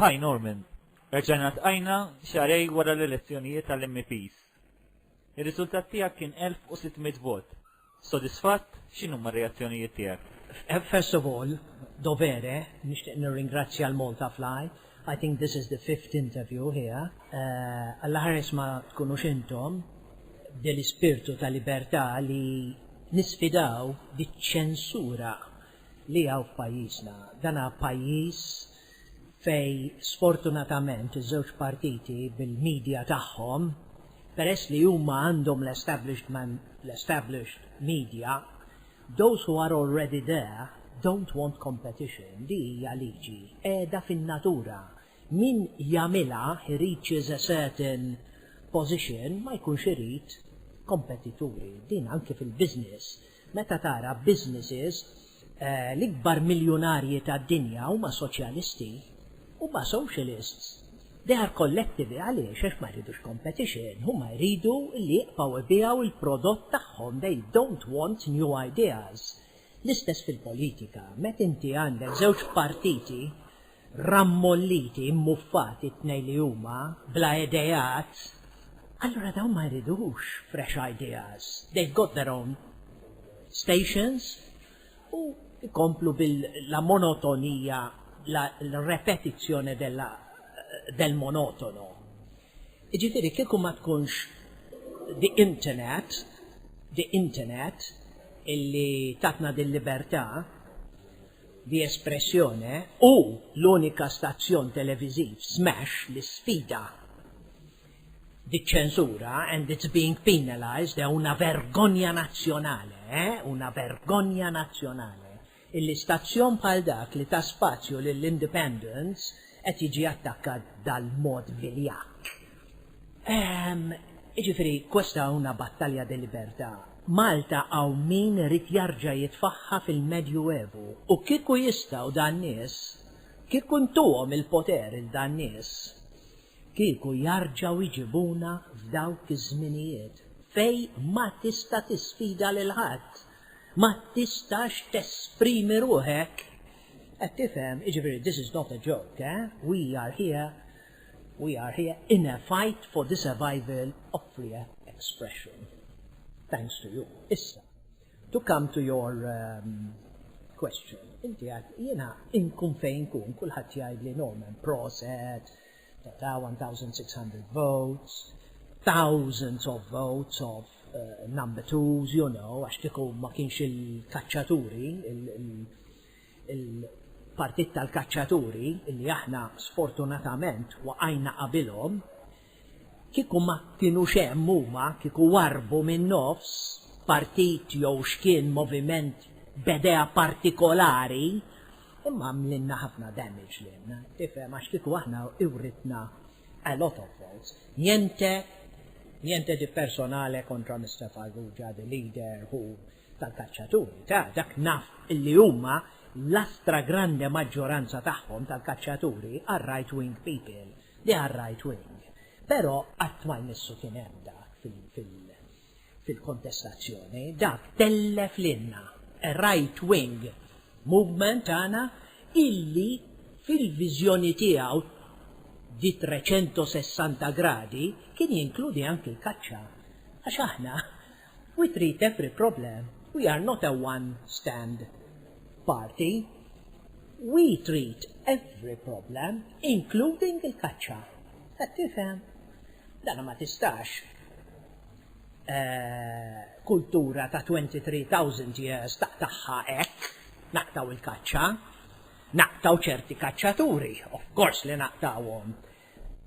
Hi Norman, Erġajna tqajna xarej wara l-elezzjonijiet tal-MPs. Ir-riżultat tiegħek kien 1600 vot. Sodisfatt? X'inhuma r-reazzjonijiet tiegħek? First of all, dovere, nixtieq nirringrazzja l-Maltafly. I think this is the fifth interview here. Allaħares ma tkunux intom bdel-ispirtu ta' libertà li nisfidaw diċ-ċensura li hawn f'pajjiżna. Dan hu pajjiż fejn sfortunatament iż-żewġ partiti bil-media tagħhom, peress li huma għandhom l-established media, those who are already there don't want competition, din hija liġi qiegħda fin-natura, min jagħmilha he reaches a certain position ma jkunx irid kompetituri, din anki fil-business Meta tara businesses, l-ikbar miljunarji tad-dinja huma soċjalisti, huma socialists. They are collectivi għaliex? Għax ma jridux competition, huma jridu li jibqgħu jbiegħu il-prodott tagħhom, they don't want new ideas. L-istess fil-politika, met inti għandek żewġ partiti rammolliti, immuffati t-tnejn li huma, bla ideat, allura dawn ma jridux fresh ideas, they've got their own stations u jkomplu bil-la monotonija, la repetizione della, del monotono. Jiġifieri kieku ma tkunx the internet, the internet, illi tatna din libertà, di espressione, u l-unika stazzjon televiżiv smash li sfida diċ-ċensura and it's being penalised, è una vergogna nazionale, è una vergogna nazionale illi stazzjon bħal dak li ta spazju lill-independents qed jiġi attakkat dal-mod viljakk. Ehm, iġifiri, questa una battalja de libertà. Malta hawn min irid jarġa jitfagħha fil-Medjuevu u kieku jistgħu dan nies, kieku ntuhom il-poter il dan nies, kieku jarġgħu jġibuna f'dawk iż-żminijiet fej ma tista' tisfida lil ħadd, ma tistax tesprimi ruħek. Qed tifhem, iġifiri this is not a joke, eh, we are here We are here in a fight for the survival of free expression. Thanks to you. Issa, to come to your um, question. Inti għad, jena inkun fejn kun, kullħat jgħid li Norman Proset, ta' 1600 votes, thousands of votes of uh, number twos, you know, għax kieku ma kienx il-kacċaturi, il-, il il-partit tal-kaċċaturi li aħna sfortunatament waqajna qabilhom, kieku ma kinux hemm huma kieku warrbu min-nofs, partit jew x'kien moviment b'edea partikolari, imma għamlilna ħafna damage lilna, tifhem, għax kieku aħna writna a lot of votes. Niente, niente di personale contra Mister Farrugia, the leader who tal-kaċċaturi, ta' dak naf li huma l-astragrande maġġoranza tagħhom tal-kaċċaturi are right wing people, they are right wing. Però qatt ma jmissu kien hemm dak fil-kontestazzjoni, dak tellef lilna a right wing movement tagħna illi fil-viżjoni tiegħu di 360 gradi kien jinkludi anki l-kaċċa. Għax aħna We treat every problem, we are not a one stand party. We treat every problem, including il-kaċċa. Qed tifhem? Dana ma tistax eh, kultura ta' 23,000 years ta' taħħa hekk naqtaw il-kaċċa, naqtaw ċerti kaċċaturi, of course li naqtawhom.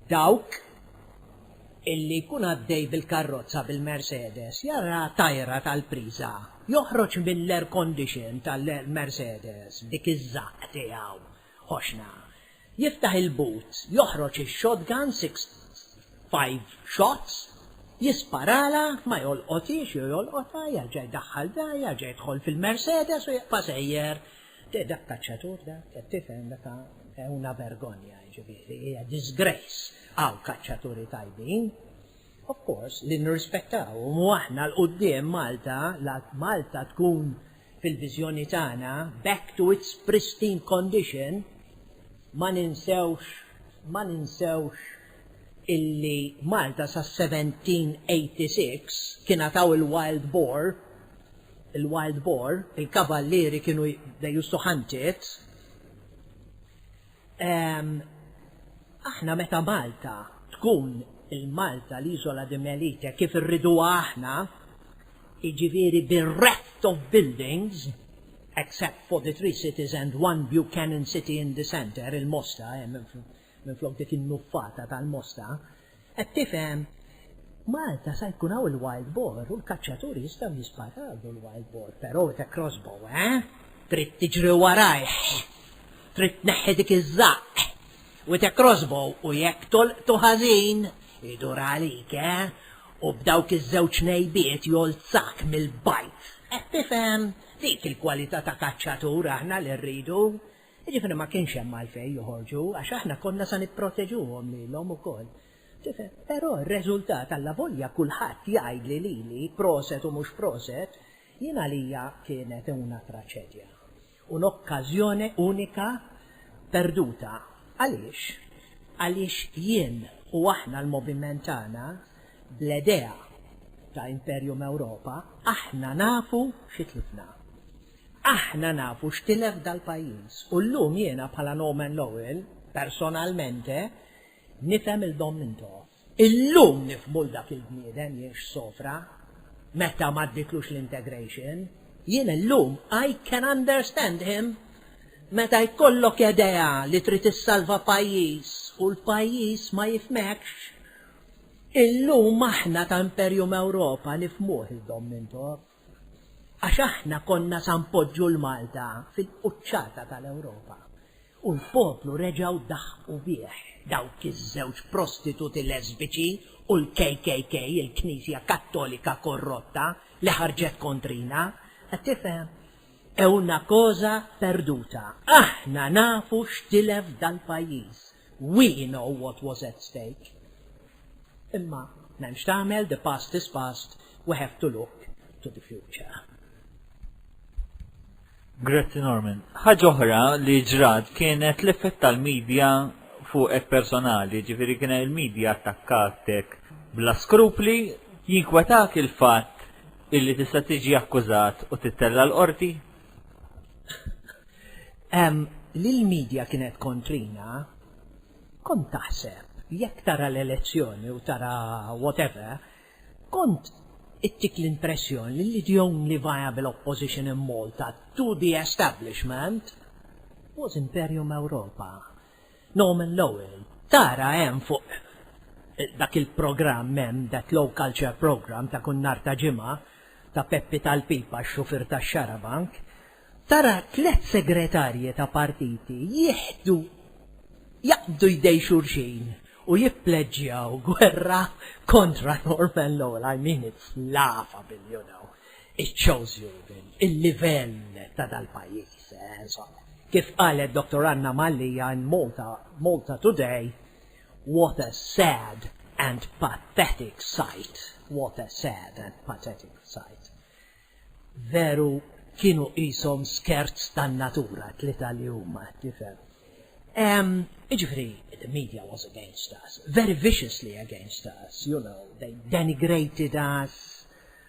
Dawk illi jkun għaddej bil-karrozza bil-Mercedes jara tajra tal-priża, joħroġ mill-air condition tal-Mercedes b'dik iż-żaqq tiegħu ħoxna, jiftaħ il-boot, joħroġ ix-shotgun six five shots, jisparalha, ma jolqothiex jew jolqotha, jerġa' jdaħħal dar, jerġa' jidħol fil-Mercedes u jibqa' sejjer. Dak kaċċatur dak, qed tifhem, dak è una vergogna, jiġifieri, hija disgrace. Hawn kaċċaturi tajbin. Of course, li nirrispettaw, u mu aħna l-qudiem Malta, la Malta tkun fil-viżjoni tagħna back to its pristine condition, ma ninsewx, ma ninsewx illi Malta sa 1786 kien għataw il-wild boar, il-wild boar, il-kavallieri kienu they used to hunt it. Ehm, aħna meta Malta tkun il-Malta l-Iżola di Melite kif irriduha aħna, jiġifieri bereft of buildings, except for the three cities and one Buchanan city in the centre, il-Mosta, Minflok dik in-nuffata tal-mosta, qed tifhem, Malta sa jkun hawn il-wild boar u l-kaċċaturi jistgħu jisparaw lill-wild boar, però with a crossbow, eh? Trid tiġri warajh, trid tneħħi dik iż-żaqq with a crossbow u jekk tolqtu ħażin, idur għalik, eh? U b'dawk iż-żewġ ngħejbiet jolzak mill-bajt. Qed tifhem? Dik il-kwalità ta' kaċċatur aħna li rridu. Jiġifieri ma kienx hemm għalfejn joħorġu għax aħna konna sa nipproteġuhom lilhom ukoll. Tifhem? Però r-reżultat allavolja kulħadd jgħidli lili proset u mhux proset, jien għalija kienet una traċedja. Un'occasione unica perduta. Għaliex? Għaliex jien u aħna l-moviment tagħna bl-edea ta' Imperium Europa aħna nafu xi tlifna. Aħna nafu x'tilef dal-pajjiż u llum jiena bħala Norman Lowell, personalmente, nifhem 'il Dom Mintoff. Illum nifhmu 'l dak il-bniedem jgħix sofra meta m'għaddietlux l-integration. Jien illum I can understand him meta jkollok edea li trid issalva pajjiż u l-pajjiż ma jifhmekx. Illum aħna ta' Imperium Ewropa nifhmuh 'il Dom Mintoff. Għax aħna konna sa npoġġu 'l Malta fil-quċċata tal-Ewropa. U l-poplu reġgħu daħqu bih, dawk iż-żewġ prostituti lesbiċi u l-KKK, il-Knisja Kattolika korrotta li ħarġet kontrina. Qed tifhem? È una cosa perduta. Aħna nafu x'tilef dal-pajjiż. We know what was at stake. Imma m'hemm x'tagħmel, the past is past, we have to look to the future. Grazzi Norman. Ħaġa oħra li ġrat kienet l-effett tal-medja fuqek personali, ġifieri kien il-medja attakkatek bla skrupli, jinkwetak il-fatt illi tista' tiġi akkużat u tittella' l-qorti? li l-medja kienet kontrina, kont taħseb jekk tara l-elezzjoni u tara whatever, kont ittik l-impressjoni li li the only viable opposition in Malta to the establishment was Imperium Europa. Norman Lowell, tara hemm fuq dak il-programm hemm that low culture programm ta' kull nhar ta' ġimgħa ta' Peppi tal-pipa x-xufier tax-xarabank, tara tliet segretarji ta' partiti jieħdu jaqbdu jdej xulxin u jippleġġjaw gwerra kontra Norman Lowell, I mean it's laughable, you know. Iċ-chosen bin, il-livell ta' dal-pajjiż, insomma. Kif qalet Dottor Anna Mallia in Malta, Malta Today, What a sad and pathetic sight, what a sad and pathetic sight. Veru kienu qishom skerz tan-natura t-tlieta li huma, tifhem. Jiġifieri, the media was against us, very viciously against us, you know, they denigrated us,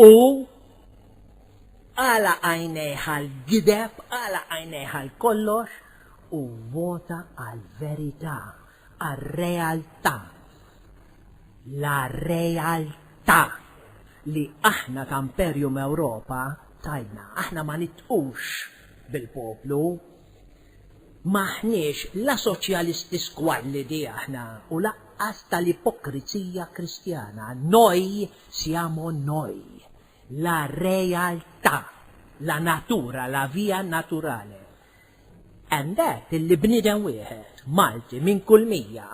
Hu għala għajnejh għall-gideb, għala għajnejh għal kollox, u vota għall-verità, għar-realtà. La realtà li aħna ta' Imperium Ewropa tajna. Aħna ma nitqux bil-poplu. M'aħniex la soċjalisti squallidi aħna u laqqas tal-ipokrizija Kristjana. Noi Siamo noi, la realtà, la natura, la via naturale. And that illi bniedem wieħed, Malti minn kull mija,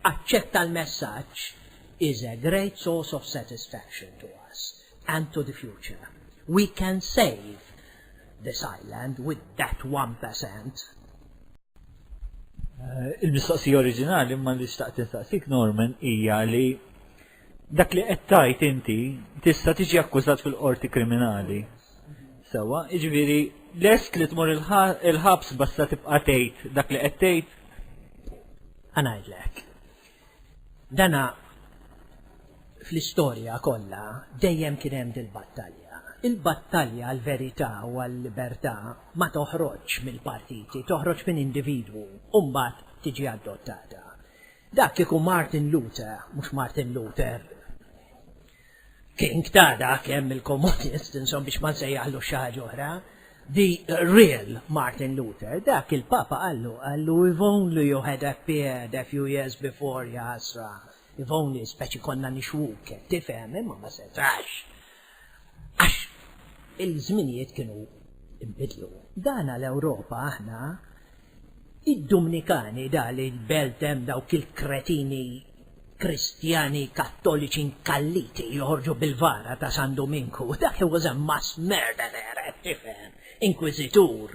aċċetta l-messaġġ is a great source of satisfaction to us and to the future. We can save this island with that one per cent. Il-mistoqsija oriġinali imma li xtaqt insaqsik Norman hija li Dak li qed tgħid inti tista' tiġi akkużat fil-qorti kriminali. Sewwa, jiġifieri lest li tmur il-ħabs basta tibqa' tgħid dak li qed tgħid? Ngħidlek. Dana fl-istorja kollha dejjem kien hemm dil-battalja. Il-battalja għall verità u għall libertà ma toħroġx mill-partiti, toħroġ minn individwu u mbagħad tiġi adottata. Dak kieku Martin Luther, mhux Martin Luther King ta' dak hemm il-komunist, insom biex ma nsejjaħlu xi ħaġa oħra, the real Martin Luther, dak il-Papa qallu, qallu if only you had appeared a few years before, ja ħasra, if only, speċi konna nixwuk, tifhem, imma ma setax. Għax il-żminijiet kienu nbidlu. Dana l-Ewropa aħna id-Dumnikani da li l-belt hemm dawk il-kretini Kristjani Kattoliċi nkalliti li joħorġu bil-vara ta' San Duminku. Dak he was a mass murderer, tifhem, inkwiżitur.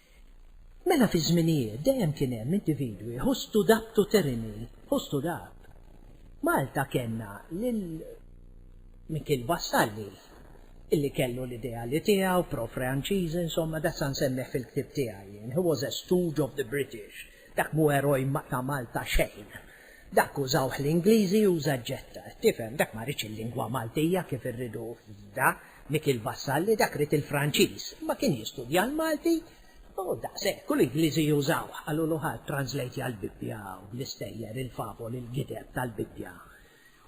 Mela fi żminijiet dejjem kien hemm individwi ħustu dabtu terini, ħustu dab. Malta kellna lil Mikiel Vassalli illi kellu l-ideali tiegħu pro-Franċiżi, insomma dak sa nsemmih fil-ktieb tiegħi jien, he was a stooge of the British, dak mhu eroj ta' Malta xejn. Dak użawh l-Ingliżi uża ġġetta, tifhem, dak ma riedx il-lingwa Maltija kif irridu f'da. Michel Vassalli dak ried il-Franċiż, ma kien jistudja l-Malti u daqshekk, u l-Ingliżi jużawh, qalulu ħa translejtja l-Bibbja u l-istejjer, il-favoli, l-gideb tal-Bibbja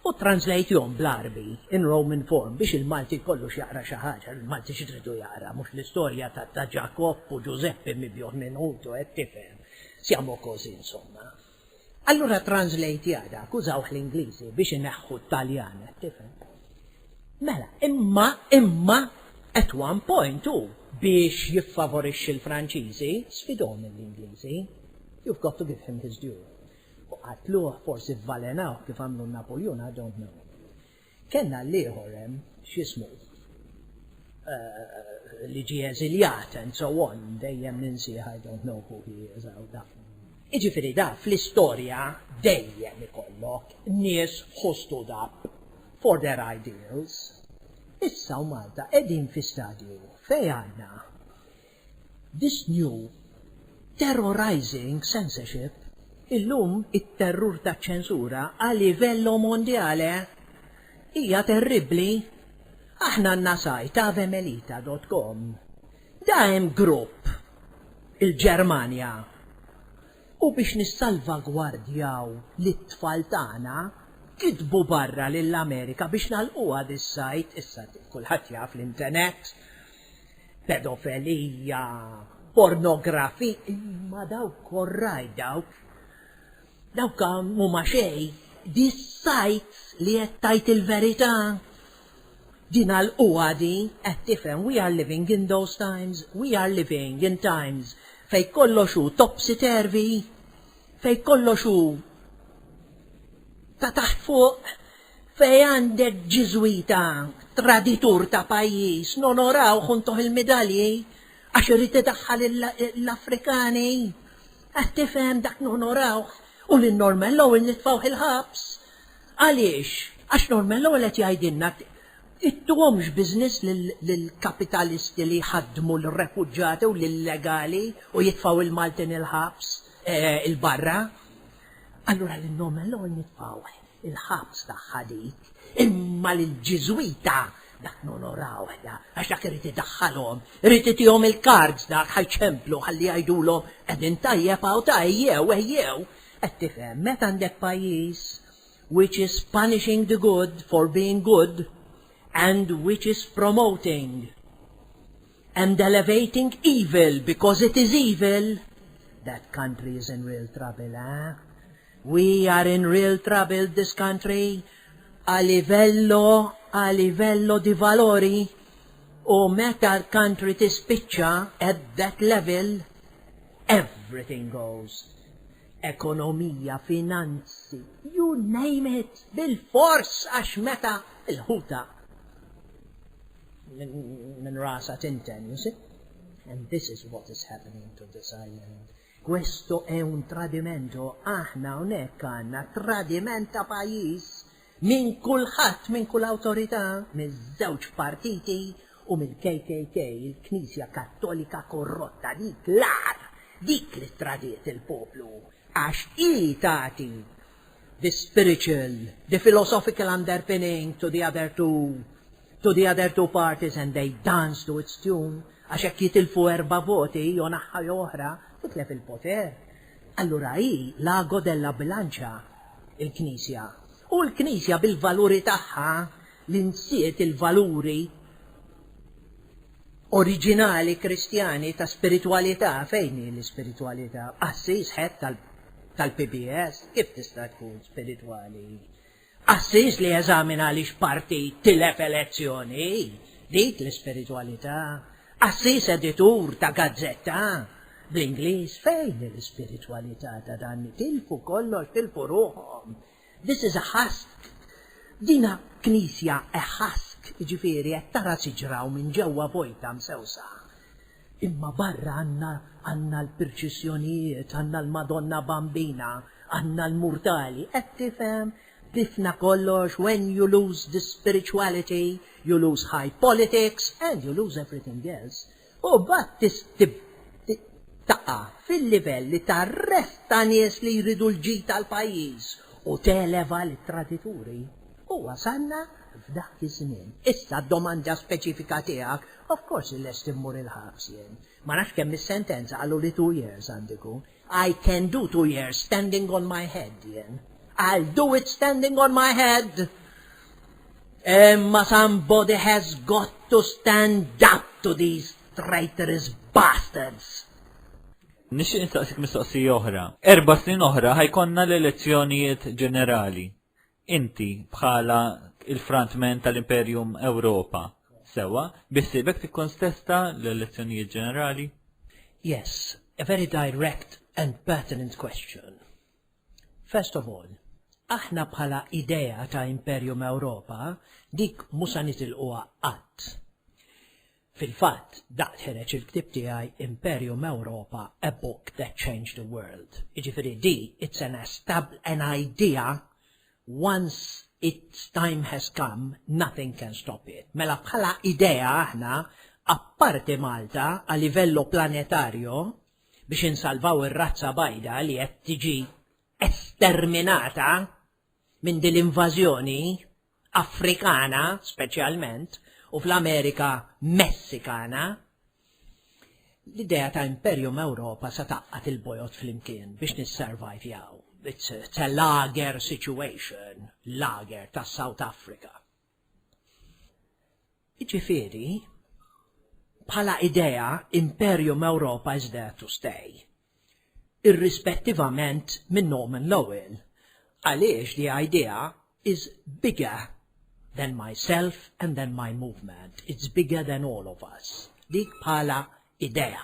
u ttranslejthom bl-Għarbi, in Roman form, biex il-Malti jkollu x'jaqra xi ħaġa, l-Malti x'iridu jaqra, mhux l-istorja ta' Ġakobb u Ġużeppi mibjugħ minn ħutu, qed tifhem? Siamo così, insomma. Allura translate jaqta' akkużawh l-Ingliżi biex ineħħu t-Taljan, qed tifhem? Mela, imma, imma, at one point hu, biex jiffavorixxi l-Franċiżi, sfidhom lill-Ingliżi, you've got to give him his due. U qatluh, forsi vvalenawh kif għamlu n-Napuljun, I don't know. Kellna l-ieħor hemm, x'jismu, li ġie eżiljat and so on, dejjem ninsieh I don't know who he is hawn da. Jiġifieri da fl-istorja dejjem ikollok nies who stood up for their ideals. Issa u Malta qegħdin fi stadju fejn għandna This new terrorizing censorship illum it-terrur taċ-ċensura a livello mondiale hija terribbli. Aħna għandna sajt avemelita dot com. Da hemm grupp il-Ġermanja u biex nissalvagwardjaw lit-tfal tagħna kitbu barra lill-Amerika biex nagħlquha dis-sajt, issa kulħadd jaf l-intenet. pedofelija, pornografi, imma dawk korraj dawk. Dawk huma xej, di sajts li qed tajt il-verità. Din għalquha di, qed tifhem we are living in those times, we are living in times fej kollox hu topsy turvy, fej kollox hu ta' taħt fuq, Fejn għandek Ġiżwita traditur ta' pajjiż nonorawh u ntuh il-midalji għax irid idaħħal l-Afrikani. Qed tifhem dak nonorawh u lil Norman Lowell nitfgħuh il-ħabs. Għaliex? Għax Norman Lowell qed jgħidilna ittuhomx business lill-kapitalisti li jħaddmu lir-refuġjati u l-illegali u jitfgħu l-Maltin il-ħabs il-barra. Allura lil Nomellor nitfgħuh il-ħabs tagħha dik, imma lill-Ġiżwita dak nonorawh da, għax dak irid idaħħalhom, irid itihom il-kards dak ħa jċemplu ħalli jgħidulhom qegħdin tajjeb hawn ta' ejjew, ejjew. Qed tifhem, meta għandek pajjiż which is punishing the good for being good and which is promoting And elevating evil because it is evil, that country is in real trouble, eh? We are in real trouble this country a livello, a livello di valori u meta l-country tispiċċa at that level, everything goes. Ekonomija, finanzi, you name it, bil-fors għax meta l-ħuta Minn rasa tinten, you see? And this is what is happening to this island. Questo è un tradimento, aħna unek għanna tradiment ta' pajis minn kulħadd, minn kull awtorità, minn żewġ partiti u minn KKK, il-Knisja Kattolika korrotta, dik l-ar, dik li tradiet il-poplu, għax i tati the spiritual, the philosophical underpinning to the other two To the other two parties and they dance to its tune, għax jekk jitilfu erba' voti, jew naħa jew oħra, titlef il-poter. Allura hi l-ago della bilancia, il-Knisja. U l-Knisja bil-valuri tagħha li nsiet il-valuri oriġinali Kristjani ta' spiritwalità, fejn hi l-ispiritwalità? Qassis ħed tal-PBS, kif tista' tkun spiritwali? Assis li jeżamina għaliex partit tilef elezzjoni, dik l-ispiritwalità. Assis editur ta' gazzetta, bl-Ingliż, fejn hi l-ispiritwalità ta' dan li tilfu kollox, tilfu ruħhom. This is a husk. Dina knisja a husk, jiġifieri qed tara siġra u minn ġewwa vojta msewsa. Imma barra għandna għandna l-pirċissjonijiet, għandna l-Madonna Bambina, għandna l-murtali, qed tifhem? Difna kollox, when you lose the spirituality, you lose high politics and you lose everything else. U mbagħad tib taqa' fil-livelli tar-ref ta' nies li jridu l-ġid tal-pajjiż u televa lit-tradituri. U wasalna f'dak iż-żmien. Issa d-domanda speċifika tiegħek Of course li lest immur il-ħabs jien. Ma nafx kemm is-sentenza, qaluli two years għandi jkun. I can do two years standing on my head jien. I'll do it standing on my head! Imma somebody has got to stand up to these traitorous bastards! Nixtieq nistaqsik mistoqsija oħra. Erba' snin oħra ħa jkollna l-elezzjonijiet ġenerali. Inti, bħala il-frontman tal-Imperium Ewropa, sewwa, biħsiebek tikkontesta l-elezzjonijiet ġenerali? Yes, a very direct and pertinent question. First of all, aħna bħala idea ta' Imperium Ewropa, dik mhu sa nitilquha qatt. Fil-fatt, daqt ħereġ il-ktieb tiegħi Imperium Europa, A Book That Changed the World. Jiġifieri di it's an estab an idea once its time has come nothing can stop it. Mela bħala idea aħna apparti Malta a livello planetario biex insalvaw ir-razza bajda li qed tiġi esterminata minn din l-invażjoni Afrikana speċjalment u fl-Amerika Messikana, l-idea ta' Imperium Ewropa sa taqqat il-bojot flimkien biex nissurvivjaw. It's, it's a lager situation, lager ta' South Africa. Iġifiri, bħala idea, Imperium Ewropa is there to stay. irrispettivament minn Norman Lowell, għaliex the idea is bigger than myself and than my movement, it's bigger than all of us, dik bħala idea.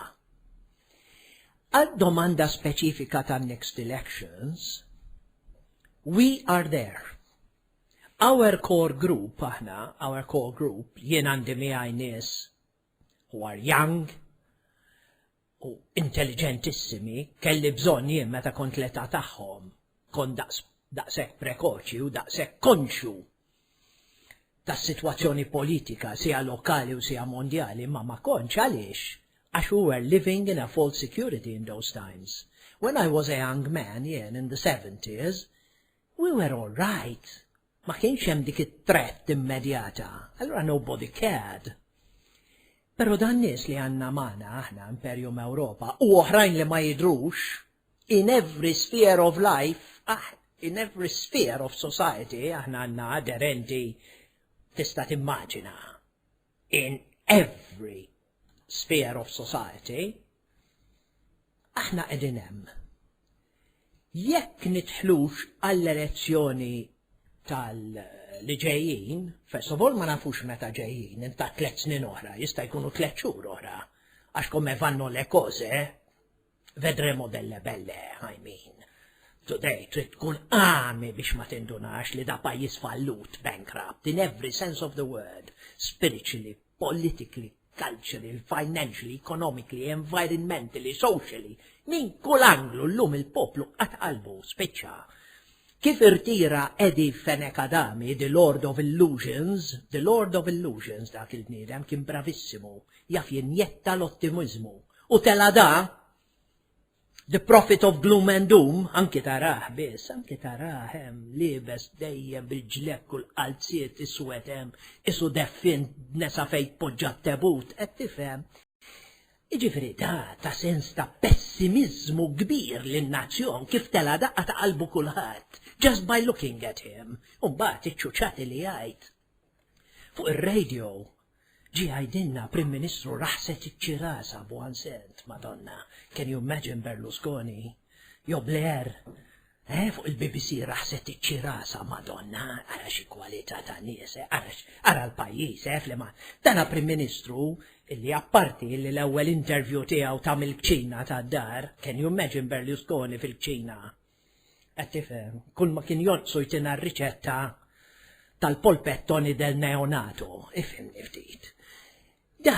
Għad-domanda speċifika tan-next elections, we are there. Our core group, aħna, our core group, jien għandi miegħi nies who are young, u intelliġentissimi kelli bżonn jien meta kont l-età tagħhom, kont daqs daqshekk prekoċi u daqshekk konxju tas-sitwazzjoni politika siha lokali u siha mondjali imma ma kontx għaliex għax we were living in a false security in those times. When I was a young man jien in the seventies we were all right Ma kienx hemm dik it-threat immedjata, allura nobody cared. Però dan nies li għandna magħna aħna Imperium Ewropa u oħrajn li ma jidhrux, in every sphere of life, ah, in every sphere of society aħna għandna aderenti tista' timmaġina. in every sphere of society, aħna qegħdin hemm. Jekk nitħlux għall-elezzjoni tal li ġejjin, first of all ma nafux meta ġejjin, inta tliet snin oħra, jista' jkunu tliet xhur oħra, għax kome vanno le koze, Vedremo delle belle, I mean. Today trid tkun għami biex ma tindunax li da pajjiż fallut, bankrupt, in every sense of the word, spiritually, politically, culturally, financially, economically, environmentally, socially, minn kull anglu l-lum il-poplu għatqalbu spiċċa. Kif irtira Eddie Fenek Adami, The Lord of Illusions, The Lord of Illusions dak il-bniedem kien bravissimu, jaf jinjetta l-ottimizmu U tela' da, The Prophet of Gloom and Doom, anki taraħ biss, anki taraħ hemm liebes dejjem bil-ġlekk u l-qalziet iswed hemm, isu deffin nesa fejn poġġa t-tebut, qed tifhem. Iġifieri da ta' sens ta' pessimiżmu kbir lin-nazzjon kif tela' daqqa ta' qalbu kulħadd, just by looking at him, u mbagħad iċ-ċuċati li jgħid. Fuq ir-radio ġie jgħidilna Prim Ministru raħset iċ-ċirasa b'hu ansent, Madonna, can you imagine Berlusconi? Jo Blair, eh, fuq il-BBC raħset iċ-ċirasa, Madonna, ara xi kwalità ta' nies, eh, ara, ara l-pajjiż, eh, flima. Dana Prim Ministru illi apparti li l-ewwel interview tiegħu ta' mill-kċina tad-dar, can you imagine Berlusconi fil-kċina? Qed tifhem, kull ma kien jonqsu jtina r-riċetta tal-polpettoni del neonato, ifhimni ftit. Da,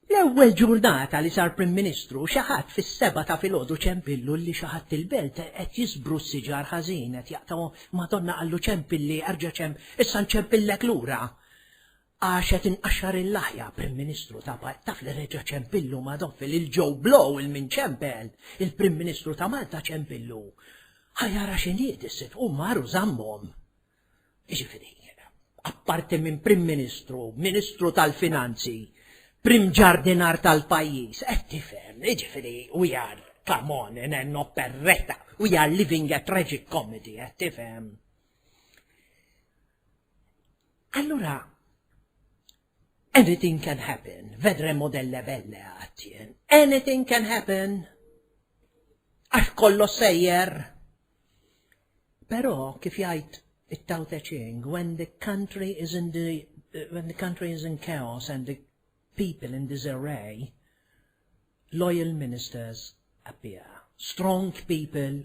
l-ewwel ġurnata li sar Prim Ministru xi ħadd fis-seba' ta' filgħodu ċempillu li xi ħadd il-belt qed jisbru s-siġar ħażin qed jaqtgħu madonna qallu ċempilli erġa' ċemp issa nċempillek lura. Għax qed inqaxxar il-laħja, Prim Ministru, ta' Malta, taf li reġa' ċempillu Madoffi lil Joe Blow il min ċempel, il-Prim Ministru ta' Malta ċempillu. Ħa jara x'inhiet is-sitt u mar u żammhom. Jiġifieri, apparti minn Prim Ministru, Ministru tal-Finanzi, Prim Ġardinar tal-pajjiż, qed tifhem, jiġifieri we are, come on, in an operetta, we are living a tragic comedy, qed tifhem. Allura, anything can happen, vedre modelle belle għattien, anything can happen, għax kollo sejjer. Pero, kif jgħid it-Tao Te Ching, when the country is in the, uh, when the country is in chaos and the people in disarray, loyal ministers appear. Strong people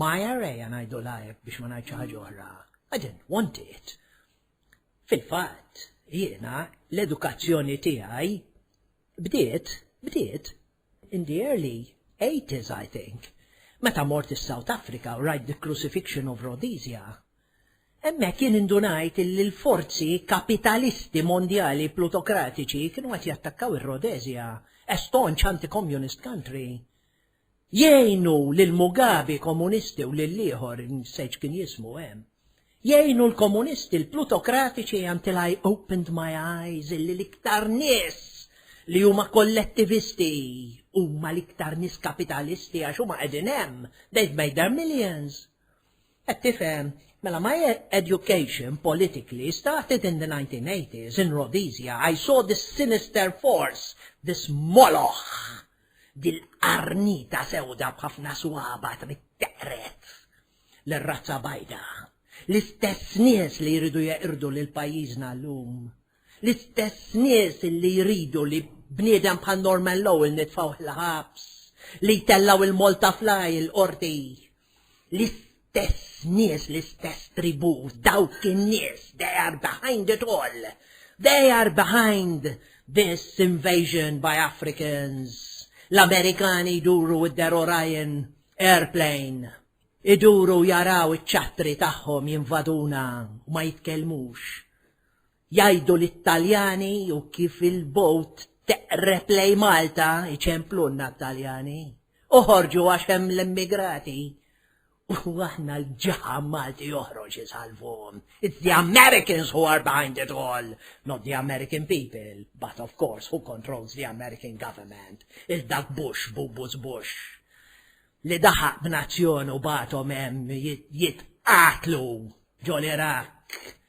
My array ngħidu lajb biex ma ngħid xi ħaġa oħra. I didn't want it. Fil-fatt, jiena l-edukazzjoni tiegħi bdiet, bdiet in the early 80s I think, meta mort is-South Africa u rajt the crucifixion of Rhodesia. Hemmhekk jien indunajt li l-forzi kapitalisti mondjali plutokratiċi kienu qed jattakkaw ir-Rhodesia, a staunch anti-communist country. Jgħinu lil Mugabi komunisti u lil ieħor, nsejt x'kien jismu hemm. Jgħinu l-komunisti l-plutokratiċi until I opened my eyes illi l-iktar nies li huma kollettivisti huma l-iktar nies kapitalisti għax huma qegħdin hemm, they've made their millions. Qed tifhem? Mela my education politically started in the 1980s in Rhodesia I saw this sinister force, this moloch! Dil-qarnita sewda b'ħafna swaba trid teqred lir-razza bajda. L-istess nies li jridu jeqirdu lil pajjiżna llum. L-istess nies li jridu li bniedem bħal Norman Lowell nitfgħuh il-ħabs, li jtellgħu 'l Malta Fly il-Qorti. L-istess nies, l-istess tribù, dawk in-nies, they are behind it all. They are behind this invasion by Africans. L-Amerikani jduru with their Orion airplane. Iduru jaraw iċ-ċattri tagħhom jinvaduna u ma jitkellmux. Jgħidu lit-Taljani u kif il-bogħod teqreb lejn Malta jċemplulna t-Taljani. Uħorġu għax hemm l-immigrati. U aħna l-ġaħam Malti joħroġ isalvuhom. It's the Americans who are behind it all, not the American people, but of course who controls the American government, il-dak Bush, Bubus Bush, li daħaq b'nazzjon u batom hemm jitqatlu ġol Iraq.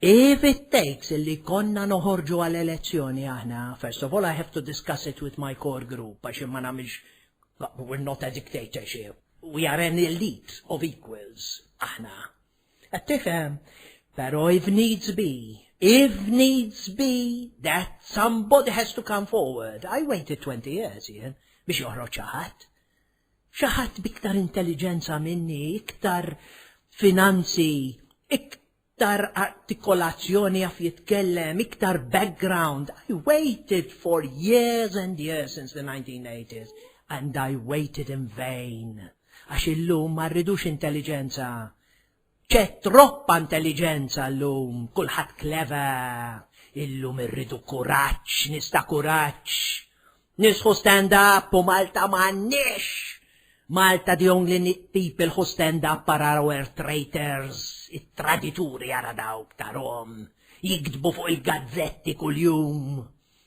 If it takes li jkollna noħorġu għal elezzjoni aħna, first of all I have to discuss it with my core group għax jien ma nagħmilx we're not a dictatorship, we are an elite of equals aħna. Qed tifhem? Però if needs be, if needs be that somebody has to come forward, I waited 20 years jien biex joħroġ xi ħadd. Xi ħadd b'iktar intelliġenza minni, iktar finanzi, iktar artikolazzjoni jaf jitkellem, iktar background, I waited for years and years since the 1980s and I waited in vain. Għax illum ma rridux intelliġenza, C'è troppa intelligenza llum, kulħadd clever, illum irridu kuraġġ, nies ta' kuraġġ. Nisħu stand up u Malta m'għandniex! Malta the only neat people who stand up are our traitors, it-tradituri ara dawk tarhom jiktbu fuq il-gazzetti kuljum.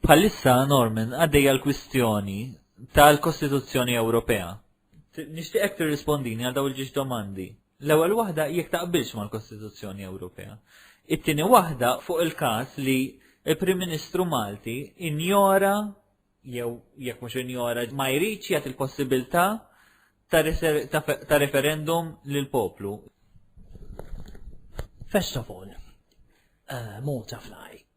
Bħalissa, Norman, għaddejja l-kwistjoni tal-Kostituzzjoni Ewropea. Nixtieqek tirrispondini għal dawn il-ġiex domandi. L-ewwel waħda jekk taqbilx mal-Kostituzzjoni Ewropea. It-tieni waħda fuq il-każ li l-Prim Ministru Malti injora jew jekk mhux injora ma jridx jagħti l-possibilità ta' referendum lill poplu. First of all, uh, Malta Fly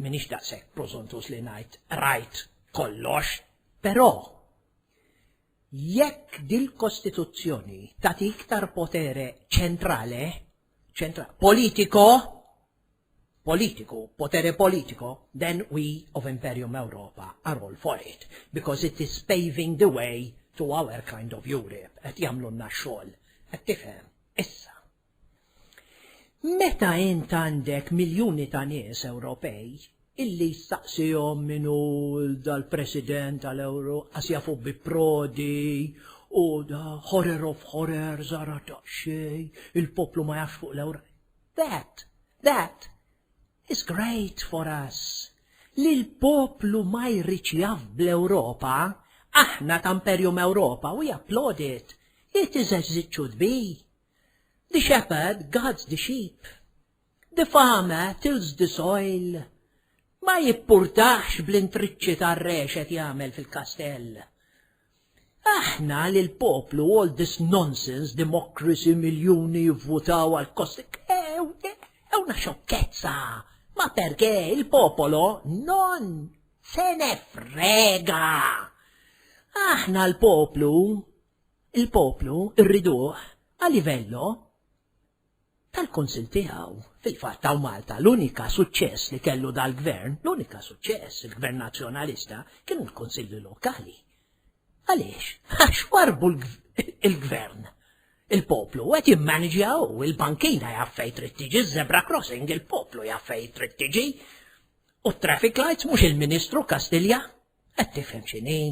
M'iniex daqshekk prożuntuż li ngħid rajt kollox, però jekk dil-Kostituzzjoni tagħti iktar potere ċentrale, ċentra, politiko, politiku, potere politiko, then we of Imperium Europa are all for it, because it is paving the way to our kind of Europe, qed jagħmlulna x-xogħol. Qed tifhem? Issa. Meta int għandek miljuni ta' nies Ewropej illi jistaqsihom min hu dal-President tal-Ewro qas jafu bi Prodi u da horror of horror żara daqsxejn il-poplu ma jafx fuq l-Ewro. That, that is great for us. Li l-poplu ma jridx jaf bl-Ewropa, aħna ta' Imperium Ewropa, we applaud it. It is a ziċċu dbi. The shepherd guards the sheep. The farmer tills the soil. Ma jippurtax bl-intriċċi tar-rexet jagħmel fil-kastell. Aħna li l-poplu all this nonsense, democracy, miljuni jivvutaw għal kost. Ewna xokkezza! Ma perché il-popolo non se ne frega! Aħna l-poplu Il-poplu rriduh a livello tal-Kunsill tiegħu. Fil-fatt hawn Malta l-unika suċċess li kellu dal-Gvern, l-unika suċċess, il-Gvern Nazzjonalista, kienu l-Kunsilli Lokali. Għaliex? Għax warbu l-Gvern. Il-poplu qed jimmaniġjaw, il-bankina jaf fejn trid tiġi, żebra crossing il-poplu jaf fejn trid tiġi. U traffic lights mhux il-Ministru Kastilja Qed tifhem x'inhi?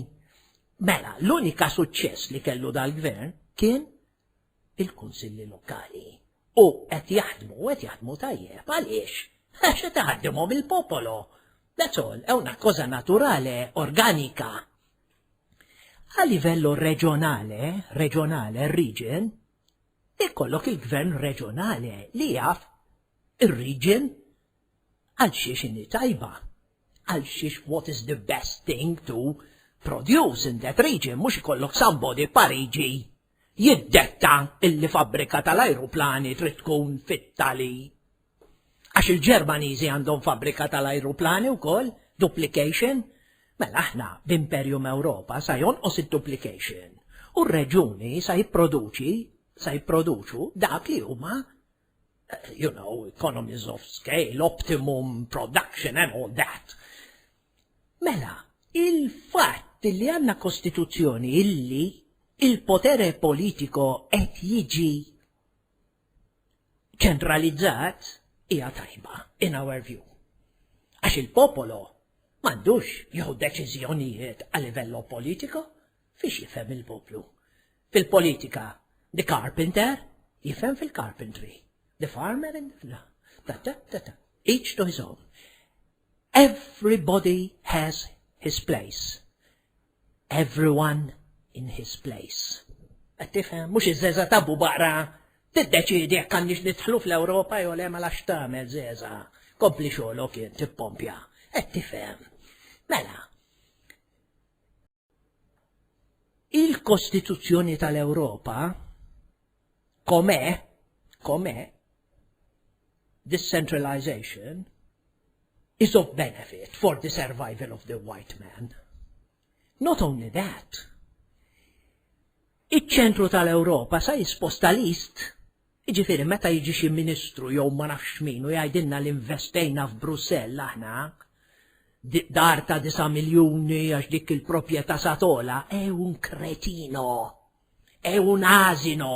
Mela, l-unika suċċess li kellu dal-gvern kien il-kunsilli lokali. U qed jaħdmu, qed jaħdmu tajjeb, għaliex? Għax qed taħdimhom il-popolo. That's all, è una cosa naturale, organika. A livello reġjonale, reġjonale, region, ikollok il-gvern reġjonale li jaf ir-region għal xiex tajba. Għal xiex what is the best thing to produce in that region mhux ikollok somebody f'Pariġi jiddetta illi fabbrika tal-ajruplani trid tkun fit-tali għax il-Ġermaniżi għandhom fabbrika tal-ajruplani wkoll, duplication, mela aħna b'imperium Ewropa sa jonqos id-duplication u r-reġuni sa jipproduċi sa jipproduċu dak li huma you know, economies of scale, optimum production and all that. Mela, il-fatt li għanna kostituzzjoni illi il-potere politiko qed jiġi ċentralizzat hija tajba in our view. Għax il-popolo m'għandux jew deċiżjonijiet għal livello politiko fiex jifhem il-poplu. Fil-politika, the carpenter jifhem fil-carpentry, the farmer in the... Ta, ta, ta, ta, each to his own. Everybody has his place. Everyone in his place. Qed tifhem, mhux iż-żeża tabu baqra tiddeċiedi jekk għandix nidħlu fl-Ewropa jew le ma lax tagħmel żeża. Kompli xogħolok jien tippompja. Qed tifhem. Mela, Il-Kostituzzjoni tal-Ewropa, kome, kome, decentralization is of benefit for the survival of the white man. Not only that, iċ-ċentru tal-Ewropa sa jisposta list Jiġifieri meta jiġi xi ministru jew ma nafx min u jgħidilna li nvestejna f'Brussell aħna, dar ta' disa' miljuni għax dik il-proprjetà sa togħla, è un cretino! È un asino!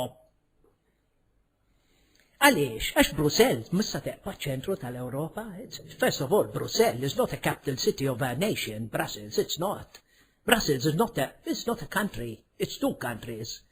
Għaliex? Għax Brussell missa teqpa' ċ-ċentru tal-Ewropa. First of all, Brussell is not a capital city of a nation, Brussels, it's not. Brussels is not a, it's not a country, it's two countries.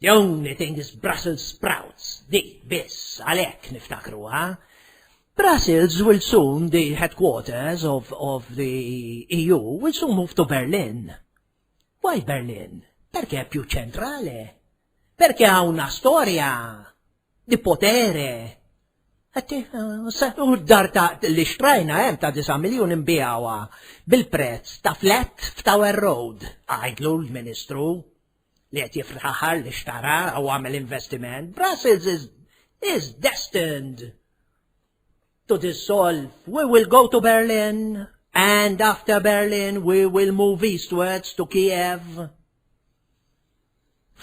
The only thing is Brussels sprouts, di biss għalhekk niftakruha. Brussels will soon the headquarters of, of the EU will soon move to Berlin. Why Berlin? Perché più centrale? Perché ha una storia di potere? Għatti, eh, u d-dar ta' li xtrajna hemm ta' 9 miljun imbijawa bil-prezz ta' flat f'Tower Road, għajdlu l-Ministru. li qed jifraħar li xtara u għamel investiment, Brussels is, is destined to dissolve. We will go to Berlin and after Berlin we will move eastwards to Kiev.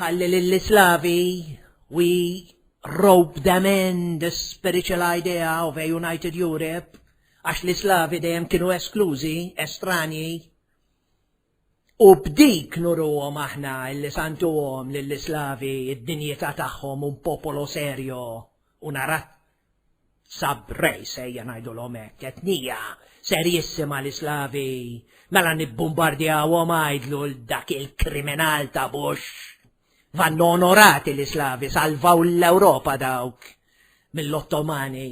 Ħalli lill-Islavi we rope them in the spiritual idea of a united Europe għax l-Islavi dejjem kienu esklużi, estranji, U b'dik nuruhom aħna illi santuhom lill-islavi d-dinjità tagħhom un popolo serio, una raz sab race ejja ngħidulhom hekk, etnija serjissima l-islavi, mela nibbumbardjawhom għidlu l dak il-kriminal ta' Bush. Vannu onorati l-islavi salvaw l-Ewropa dawk mill-Ottomani.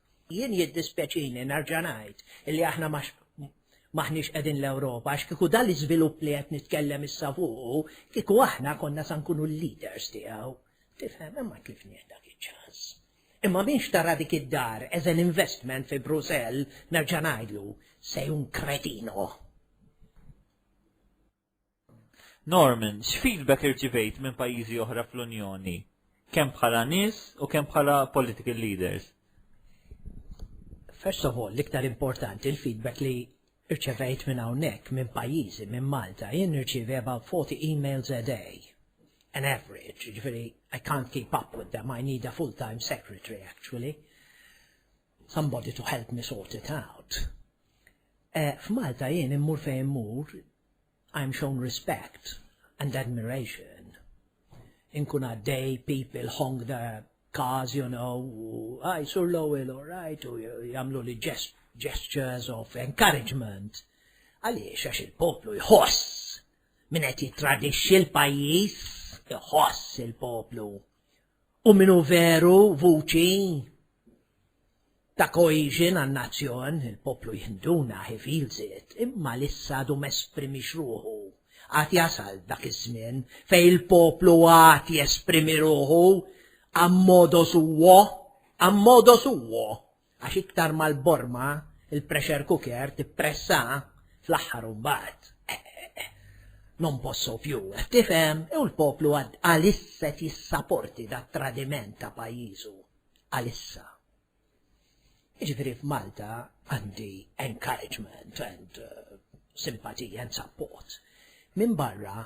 Jien jiddispjaċini nerġa' ngħid li aħna ma m'aħniex qegħdin l-Ewropa għax kieku dan l-iżvilupp li qed nitkellem issa fuqu, kieku aħna konna sa nkunu l-leaders tiegħu. Tifhem, imma tlifnieh dak iċ-ċans. Imma min xtara dik id-dar as an investment fi Brussell, nerġa' ngħidlu, se jkun kretino. Norman, x'feedback irċivejt minn pajjiżi oħra fl-Unjoni, kemm bħala nies u kemm bħala political leaders? First of all, l-iktar importanti l-feedback li irċevejt minn hawnhekk, minn pajjiżi, minn Malta, jien nirċievi about 40 emails a day, an average, ġifieri I can't keep up with them, I need a full-time secretary actually. Somebody to help me sort it out. Eh, F'Malta jien immur fejn immur, I'm shown respect and admiration. Inkun għaddej, people honk the cars, you know, u għaj, sur l-ewel, all right, u jamlu li ġest gestures of encouragement. Għaliex għax il-poplu jħoss minn qed jittradixxi l-pajjiż, jħoss il-poplu. u min hu veru vuċi ta' cohesion għan-nazzjon, il-poplu jħinduna he feels it, imma li issa għadu m'esprimix ruħu. Għad jasal dak iż-żmien fejn il-poplu għad jesprimi ruħu, a modo suo, a modo suo! Għax iktar ma l-borma, il-pressure cooker, tippressa, fl-aħħar u mbagħad. Non posso più, qed tifhem, u l-poplu għad għalissa jissaporti dat tradiment ta' pajjiżu. Għalissa. Jiġifieri f'Malta għandi encouragement and uh, simpatija and support. Minn barra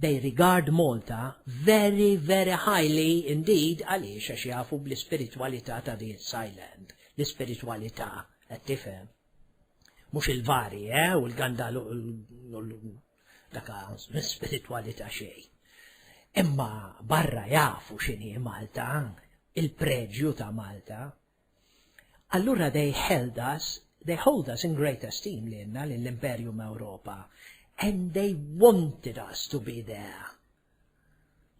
They regard Malta very, very highly indeed għaliex għax jafu bl-ispiritwalità ta' din Thailand. L-ispiritwalità, qed tifhem. Mhux il-vari, eh, u l-gandal u daka spiritwalità xejn. Imma barra jafu x'inhi Malta, il-preġju ta' Malta, Allura they held us, they hold us in great esteem lilna lill-Imperium Ewropa and they wanted us to be there.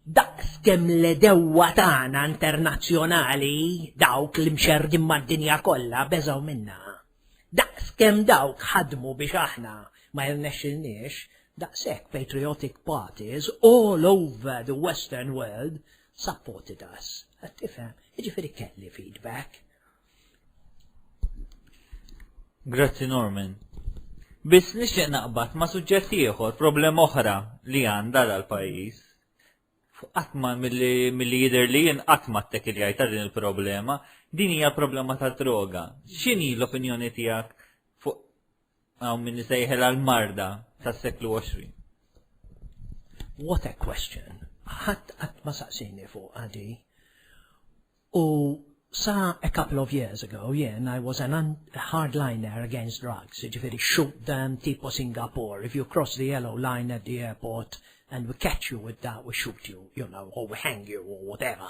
Daqs kemm l-edewwa tagħna internazzjonali dawk li mxerrdin mad-dinja kollha beżgħu minna. Daqs kemm dawk ħadmu biex aħna ma jirnexxilniex, daqshekk patriotic parties all over the western world Supported us. Qed tifhem, jiġifieri kelli feedback. Grazzi Norman. Biss nixtieq naqbad ma' suġġett ieħor, problema oħra li għandha dal-pajjiż. Qattma milli jidher li jien qatt ma ttek il ta' din il-problema, din hija problema ta' droga. X'inhi l-opinjoni tiegħek fuq Hawn min isejħel għal marda tas-seklu 20. What a question. Ħadd qatt ma saqsini fuq għadi. U sa a couple of years ago, jen, I was an hardliner against drugs, ġifiri shoot them tipo Singapore. If you cross the yellow line at the airport and we catch you with that, we shoot you, you know, or we hang you or whatever.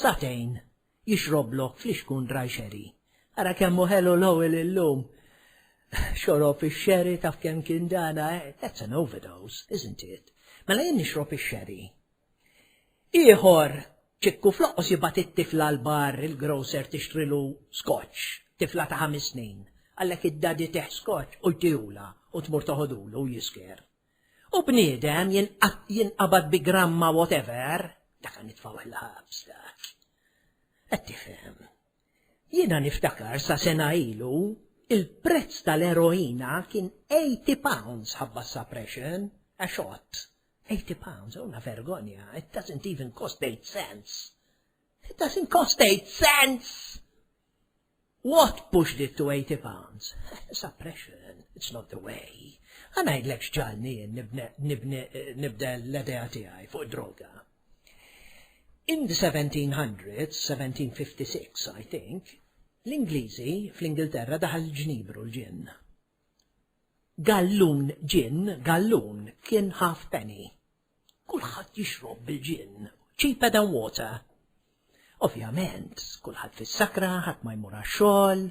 Sagħtejn jixroblok flixkun dry sherry. Ara kemm hu ħelu Lowell illum! Xorob ix-sherry taf kemm kien dana, eh? That's an overdose, isn't it? Mela jien nixrob ix-sherry. Ieħor, Ċikku fl-oqqos jibgħat it-tifla l-bar il-grocer tixtrilu scotch, tifla ta' ħamis snin, għalhekk id-daddy teh scotch u jtihulha u tmur toħodulu u jisker. U bniedem jinqabad bi gramma whatever, dak nitfgħuh il-ħabs dak. Qed tifhem. Jiena niftakar sa sena ilu il-prezz tal-eroina kien 80 pounds ħabba suppression, a shot. 80 pounds, una vergonja, it doesn't even cost 8 cents. It doesn't cost 8 cents! What pushed it to eighty pounds? Suppression, it's not the way. Ħa ngħidlek x'ġagħalni jien nibda l-idea tiegħi fuq id-droga. In the 1700s, 1756 I think, l-Ingliżi fl-Ingilterra daħal il-ġnibru l-ġinn. Gallun ġin, gallun kien half penny. Kulħadd jixrob bil-ġin, cheaper than water. Ovvjament, kulħadd fis-sakra, ħadd ma jmur għax-xogħol,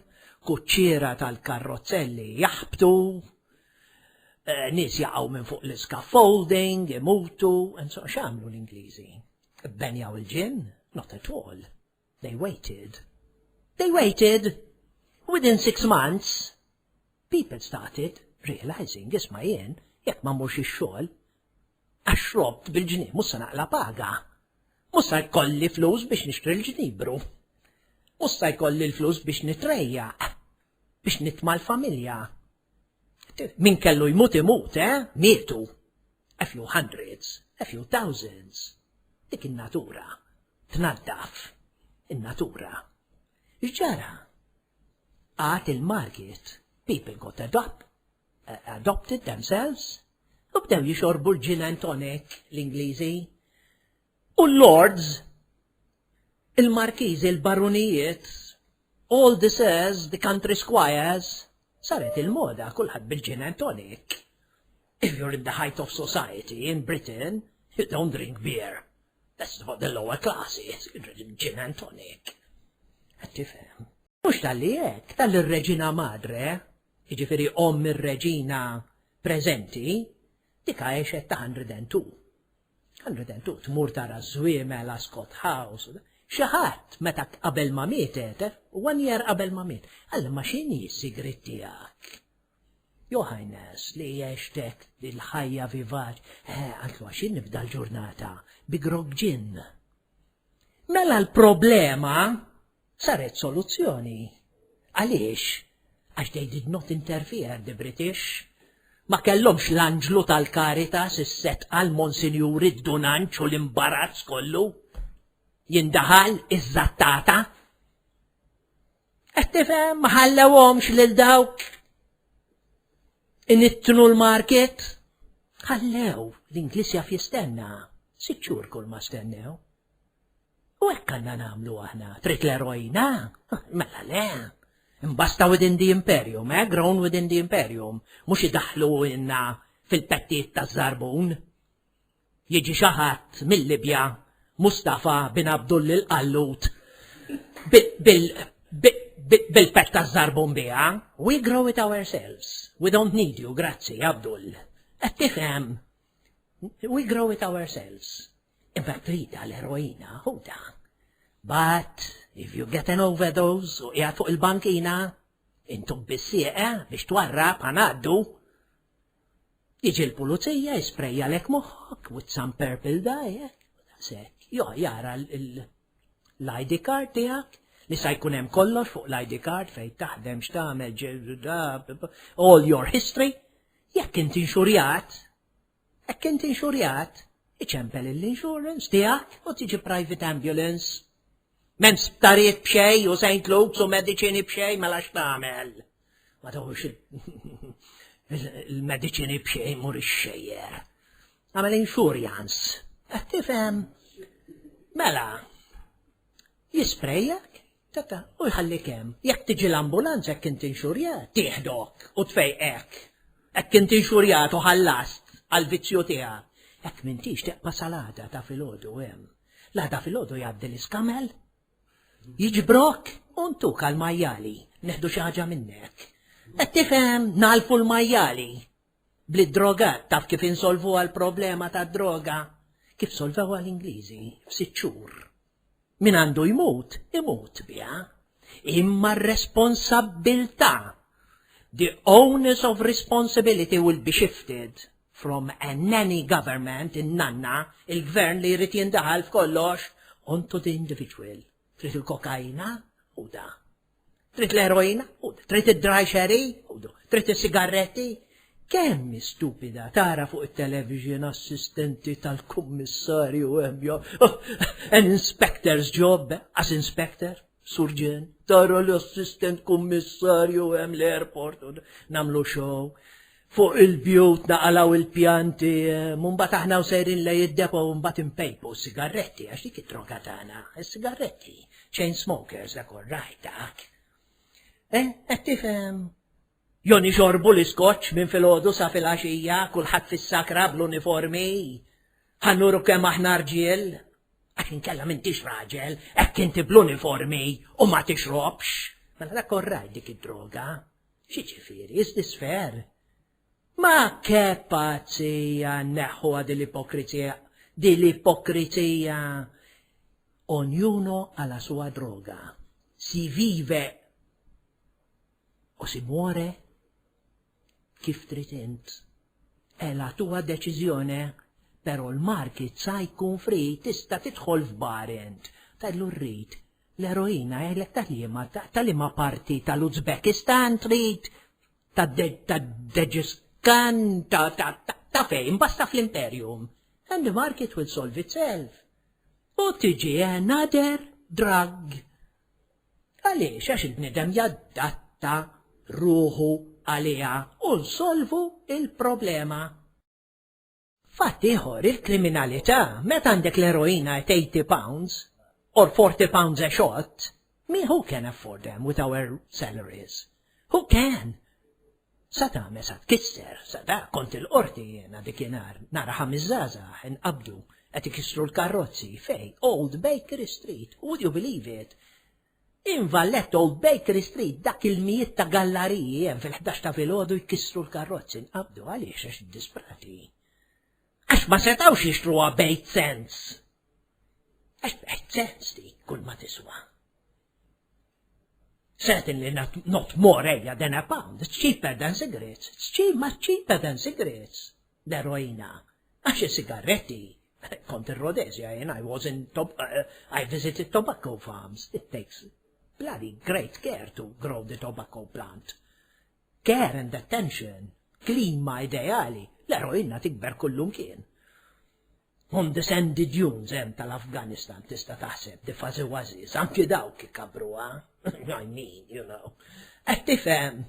kuċċiera tal-karrozzelli jaħbtu, eh, nies jaqgħu minn fuq l-scaffolding, imutu, and so x'għamlu l-Ingliżi? Benjaw il-ġin? Not at all. They waited. They waited. Within six months, people started realizing, isma jien, jekk ma murx ix-xogħol, għax robt bil-ġnib mhux se naqla paga. Mhux se jkolli flus biex nixtri l-ġnibru. Mhux se jkolli l-flus biex nitrejjaq, biex nitma l-familja. Min kellu jmut imut, eh? Mietu. A few hundreds, a few thousands. Dik in-natura. Tnaddaf. In-natura. X'ġara? Għad il-market, people got adopt, eh, adopted themselves, u bdew jixorbu l-gin and tonic l-Ingliżi. U l-Lords, il-Markiżi, il-Barunijiet, all this is, the country squires, saret il-moda kulħadd bil-gin and tonic. If you're in the height of society in Britain, you don't drink beer. That's what the lower classes, you drink gin and tonic. Għattifem. Mux tal-li jek, tal-li reġina madre, iġifiri om il-reġina prezenti, dika eċet ta' 102. Għal-vedent, tu tmur tara żwiemel, Ascot House, xi ħadd meta qabel ma miet għetef, u one year qabel ma miet, għalli ma x'inhi s-sigriet tiegħek? Jo ħajnes li jgħextek il-ħajja vivaċ, eh, għantlu għaxin nibda l-ġurnata bi grog ġin. Mela l-problema Saret soluzzjoni. Għaliex? Għax they did not interfere, the British. Ma kellhomx l-anġlu tal-Caritas, is-setqa, l-Monsinjur, id-dunanċ u l-imbarazz kollu. Jindaħal iż-żattata. Qed tifhem ma ħallewhomx lil dawk inittnu l-market. Ħallew l-Ingliż jaf jistenna, sitt xhur kull ma stennew. U hekk għandna nagħmlu aħna, trid l-eroina? Mela le. Imbasta within the imperium, eh, grown within the imperium, mhux idaħlu inna fil-pettijiet taż-żarbun. Jiġi xi ħadd mill-Libja, Mustafa bin Abdul il-Qallut, bil-pett taż-żarbun biha, we grow it ourselves. We don't need you, grazzi, Abdul. Qed tifhem? We grow it ourselves. Imbagħad trida l-eroina ħuda. But if you get an overdose u qiegħed fuq il-bankina, intu bissieqe biex twarrab ħanaddu. Jiġi l-pulizija jisprejja lek moħħok with some purple dye, sek, jo jara l-ID card tiegħek li sa jkun hemm kollox fuq l-ID card fejn taħdem x'tagħmel all your history, jekk inti inxurjat, Hekk int inxurjat, iċempel l-insurance tiegħek u tiġi private ambulance. M'hemm sptarijiet b'xej u St. Luke's u mediċini b'xej mela x'tagħmel. Ma tawx il-mediċini b'xej mur ix-xejjer. Għamel insurance. Qed tifhem? Mela, jisprejjak Tata, u jħallik hemm. Jekk tiġi l-ambulanza hekk int inxurjat, tieħdok u tfejqek. Hekk int inxurjat u ħallast għall-vizzju tiegħek. Hekk m'intix teqpa' sal-għada ta' filgħodu hemm. L-għada filgħodu jgħaddi l-iskamel, jiġbrok u ntuk għall-majjali, neħdu xi ħaġa minnek. Qed tifhem, ngħalfu l-majjali. Bl-iddrogat taf kif insolvuha l-problema tad-droga? Kif solvewha l-Ingliżi f'sitt xhur. Min għandu jmut, imut biha. Imma r-responsabbiltà, the onus of responsibility will be shifted from a nanny government, in-nanna, il-gvern li jrid jindaħal f'kollox, onto the individual. Trid il-kokaina? Ħudha. Trid l-eroina? Trid id-dry sherry? Trid is-sigarretti? Kemm stupida tara fuq it-television assistenti tal-kummissarju hemmja. Oh, an inspector's job, as inspector, surġen, tara l-assistent kummissarju hemm l-airport u namlu show. Fuq il-bjut naqalgħu il-pjanti, u mbagħad aħna u sejrin lej id-depo u mbagħad inpejpu s-sigarretti għax dik it-droga tagħna, is-sigarretti, chain smokers dak orrajt dak. Eh, qed tifhem? Jon ixorbu l-iskoċċ minn filgħodu sa filgħaxija, kulħadd fis-sakra bl-uniformi. Ħannuru kemm aħna rġiel. Għax inkella m'intix raġel, hekk inti bl-uniformi u ma tixrobx. Mela dak orrajt dik id-droga, Xiġifieri, s-sfer? Ma ke pazzija neħħuha din l-ipokrizija, din l-ipokrizija! Ognuno a la sua droga. Si vive u si muore kif trid int. E la tua deċiżjone, però l-market sa jkun fri tista' tidħol f'bar int. Tgħidlu rrid L-eroina jgħidlek ta' liema ta' liema parti tal-Uzbekistan trid tad-Deġiskan ta' ta' ta' fejn basta fl-Imperium. And the market will solve itself. U tiġi another drug. Għaliex għax il-bniedem jaddatta ruħu għaliha u nsolvu il-problema. Fatt ieħor, il-kriminalità, meta għandek l-eroina at 80 pounds, or 40 pounds a shot, min who can afford them with our salaries? Who can? Sa tagħmel sa tkisser, sa da kont il-qorti jiena dikinhar nara ħames żgħażagħ inqabdu qed ikissru l-karrozzi fej Old Bakery Street, would you believe it? In Valletto u f'Bakery Street dak il-mijiet ta' gallariji hemm fil-ħdax ta' filgħodu jkissru l-karrozzi nqabdu għaliex għax iddisprati. Għax ma setgħux jixtruha b'eight cents. Għax b'eight cents dik kull ma tiswa. Certainly not, not more ejja than a pound, it's cheaper than cigarettes, it's cheap, much cheaper than cigarettes. L-eroina, għax is-sigarretti, kont ir-Rhodesia jien, I was in, I visited tobacco farms, it takes bloody great care to grow the tobacco plant. Care and attention, klima ideali, l-eroina tikber kullum kien. On the sandy dunes hemm tal-Afganistan tista' taħseb di fazi waziz, anki dawk ikabruha, I mean, you know. Qed tifhem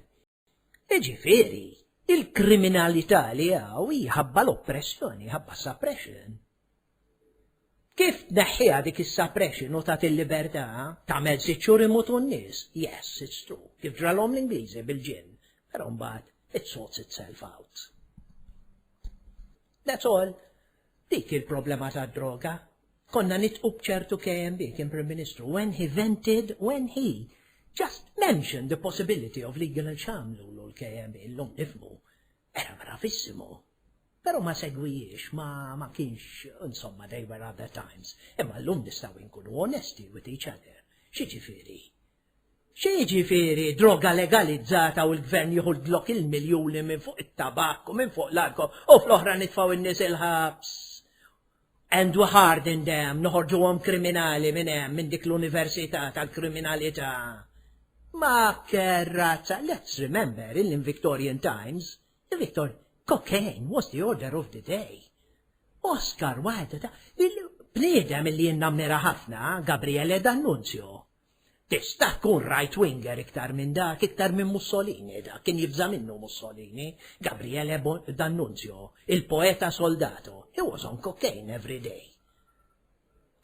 Jiġifieri, il-kriminalità li hawn hi ħabba l-oppressjoni, ħabba suppression. Kif tneħħiha dik is-suppression u tagħti l-libertà tagħmel sitt xhur imutu n-nies? Yes, it's true. Kif ġralhom l-Ingliżi bil-ġinn. Però mbagħad it sorts itself out. That's all. Dik hi l-problema tad-droga. Konna nitqu b'ċertu KMB, kien Prim Ministru, when he vented, when he just mentioned the possibility of legal il xamlulu l-KMB, l-lum nifmu. Era bravissimo. Pero ma segwijiex, ma, ma kienx, insomma, they were other times. Imma l-lum nistaw inkunu onesti with each other. Xieġifiri? Xi jiġifieri droga legalizzata u l-Gvern jieħu l-Glock il-miljuni minn fuq it-tabakk u minn fuq l-alkoħol u fl-oħra nitfgħu n-nies il-ħabs and we harden them, noħorġuhom kriminali minn hemm, minn dik l-università tal-kriminalità. Ma kerrazza, let's remember in Victorian times, the Victor, cocaine was the order of the day. Oscar Wilde ta' bniedem li jinnamnira ħafna, Gabriele D'Annunzio. Tista' tkun right-winger iktar minn dak, iktar minn Mussolini, dak kien jibża' minnu Mussolini, Gabriele D'Annunzio, il-poeta soldato, he was on cocaine every day.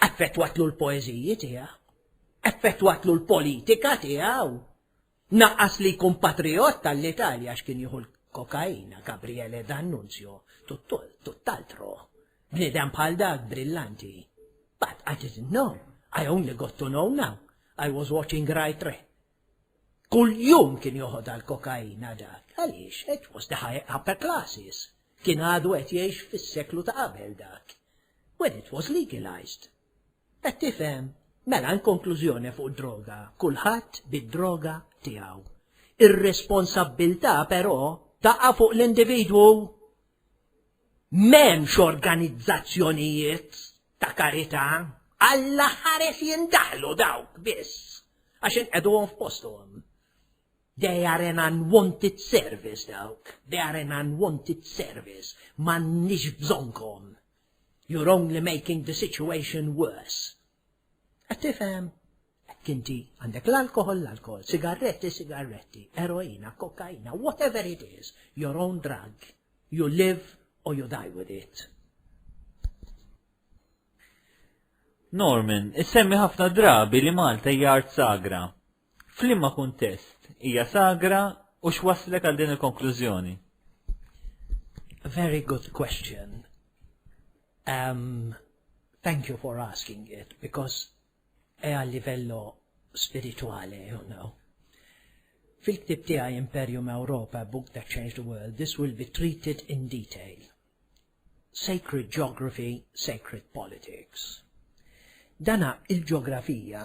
Affettwatlu l-poeżiji tiegħu, affettwatlu l-politika tiegħu. Naqqas li jkun patrijott tal-Italja għax kien jieħu l-kokaina Gabriele D'Annunzio tutt'altro. Bniedem bħal dak brillanti. But I didn't know. I only got to know now. I was watching right re. Kull jum kien joħod għal-kokaina dak. Għaliex, it was the high upper classes. Kien għadu qed jgħix fis-seklu ta' qabel dak. When it was legalized. Qed tifhem? Mela, in konklużjoni fuq id-droga, kulħadd bid-droga tiegħu. Ir-responsabbiltà però taqa' fuq l-individwu. M'hemmx organizzazzjonijiet ta' karità. Alla ħares jindaħlu dawk biss għax inqegħduhom f'posthom. They are an unwanted service dawk. They are an unwanted service. M'għandniex bżonnkom. You're only making the situation worse. Qed tifhem? Hekk inti għandek l-alkohol, l-alkohol, sigarretti, sigarretti, eroina, kokaina, whatever it is, your own drug. You live or you die with it. Norman, issemmi ħafna drabi li Malta hija art sagra. F'liema kuntest hija sagra u x'wasslek għal din il-konklużjoni? Very good question. Um, thank you for asking it because è a livello spirituale, you know. Fil-ktib tiegħi Imperium Europa, Book That Changed the World, this will be treated in detail. Sacred Geography, Sacred Politics. Dana il-ġeografija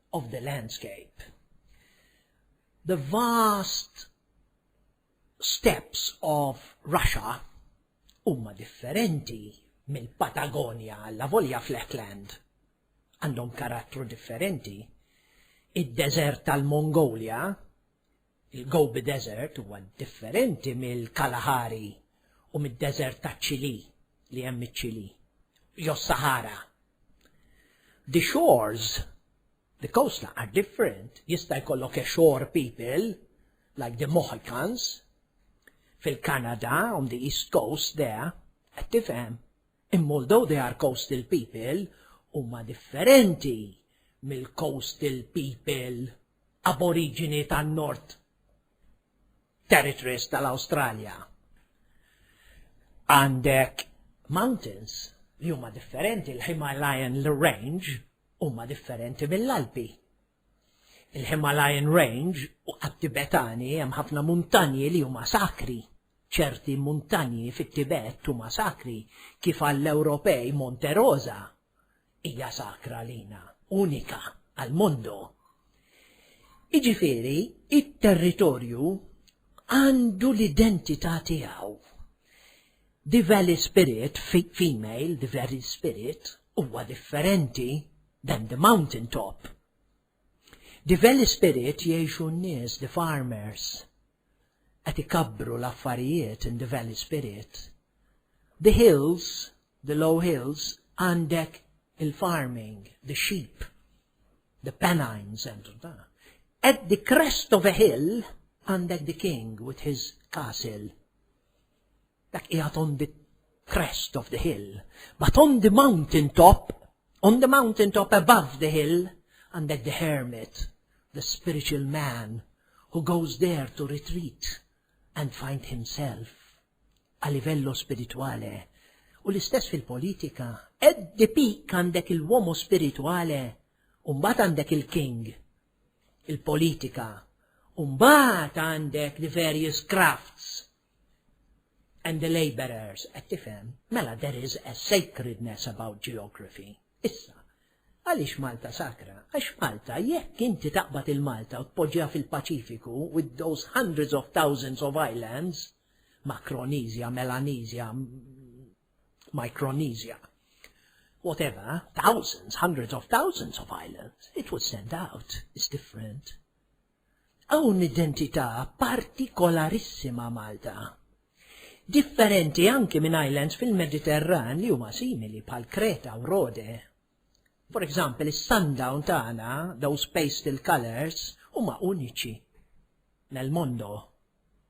of the landscape. The vast steps of Russia huma differenti mill-Patagonja għalla volja fl-Heckland. Għandhom karattru differenti. Id-deżert tal-Mongolia Il-Gobi Desert huwa differenti mill-Kalahari u mid-deżert taċ-Ċilì li hemm iċ-Ċilì, jew s-Saħara. The shores, the coastline are different, jista' jkollok a shore people like the Mohicans fil-Kanada on the east coast there, qed tifhem? Imma although they are coastal people, huma differenti mill-coastal people aboriġini tan-North Territories tal-Awstralja. Għandek mountains li huma differenti, il-Himalayan Range huma differenti mill-Alpi. Il-Himalayan Range u għat-Tibetani hemm ħafna muntanji li huma sakri. ċerti muntanji fit-Tibet huma sakri kif għall-Ewropej Monte Rosa hija sakra għalina, unika għall-mundu. Jiġifieri, it-territorju għandu l-identità tiegħu. The Valley Spirit, female, The Valley Spirit, huwa differenti than the mountain top. Di veli spirit jgħixu n-nies, di farmers qed ikabbru l-affarijiet in di veli spirit. Di hills, di low hills għandek il-farming, di sheep, di penines and da. At di crest of a hill għandek di king with his castle. Dak qiegħed on the crest of the hill, but on the mountain top, on the mountain top above the hill, għandek the hermit, the spiritual man, who goes there to retreat and find himself a livello spirituale. U l-istess fil-politika, at the peak għandek il-womo spirituale, umbat għandek il-king, il-politika, umbat għandek the various crafts, and the laborers qed tifhem, mela there is a sacredness about geography. Issa, għaliex Malta sakra? Għax Malta, jekk inti taqbad il-Malta u tpoġġiha fil-Paċifiku with those hundreds of thousands of islands, Macronesia, Melanesia, Micronesia, whatever, thousands, hundreds of thousands of islands, it would stand out, it's different. Hawn identità partikolarissima Malta. Differenti anki minn islands fil-Mediterran li huma simili bħal Kreta u Rode. For example is-sundown tagħna, those pastel colours, huma uniċi. Nel mondo.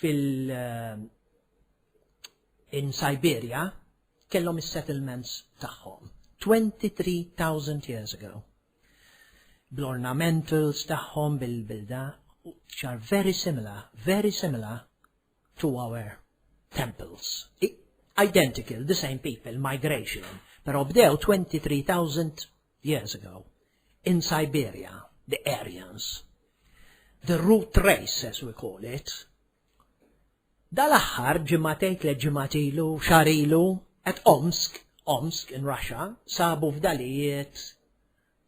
fil eh, in Siberia kellhom is-settlements tagħhom 23,000 years ago. Bl-ornamentals tagħhom bil-bilda which are very similar, very similar to our temples. Identical, the same people, migration, pero bdew 23,000 years ago, in Siberia, the Aryans, the root race as we call it, dal-aħħar ġimgħatejn tliet ġimgħat ilu, xahar ilu, at Omsk, Omsk in Russia, sabu fdalijiet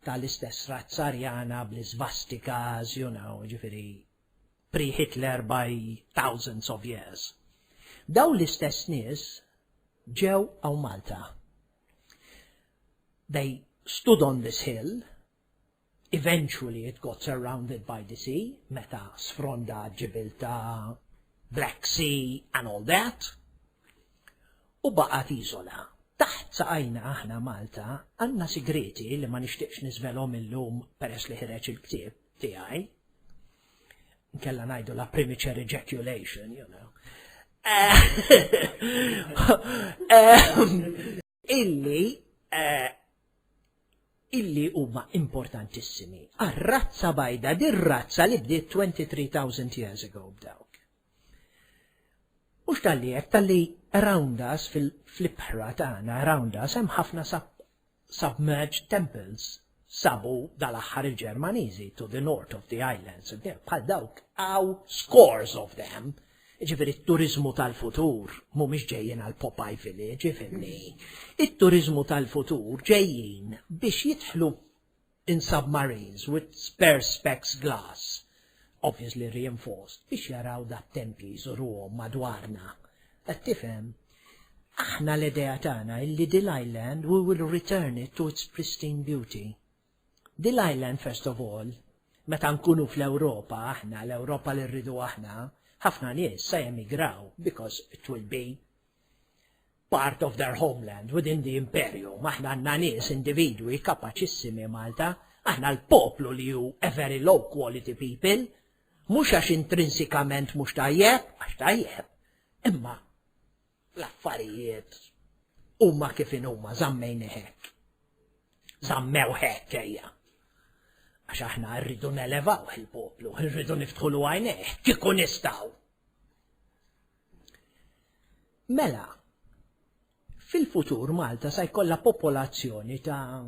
tal-istess razza Arjana bl-isvastikas, you know, ġifieri pre-Hitler by thousands of years. Daw l-istess nies ġew għaw Malta. They stood on this hill, eventually it got surrounded by the sea, meta sfronda ġibil ta' Black Sea and all that, u baqgħet iżola. Taħt saqajna aħna Malta għandna sigrieti li ma nixtieqx niżvelhom illum peress li ħreġ il-ktieb tiegħi. Nkella ngħidu la premature ejaculation, you know. Eh, eh, illi eh, illi huma importantissimi għar-razza bajda, dir-razza li bdiet 23,000 years ago b'dawk. Mhux tal-li hekk tal-li around us fil-ibħra tagħna around us hemm ħafna submerged temples sabu dal-aħħar il-Ġermaniżi to the north of the islands, bħal dawk għaw scores of them, ġifiri t-turizmu tal-futur mhumiex ġejjin għal Popeye Village, ifimni. It-turizmu tal-futur ġejjin biex jidħlu in submarines with perspex glass Obviously reinforced biex jaraw dat-tempji jżuruhom madwarna. Qed tifhem? Aħna l-idea tagħna hi li dil island we will return it to its pristine beauty. Dil island first of all, meta nkunu fl-Ewropa aħna, l-Ewropa li rridu aħna, ħafna nies se jemigraw because it will be part of their homeland within the imperium, aħna għandna nies individwi kapaċissimi Malta, aħna l-poplu li hu a very low quality people, mhux għax intrinsikament mhux tajjeb, għax tajjeb, imma l-affarijiet huma kif huma żammejn hekk. Żammew hekk ejja. Għax aħna rridu nelevaw il-poplu, rridu niftħu l għajnejh, kieku nistgħu. Mela, fil-futur Malta sa jkollha popolazzjoni ta'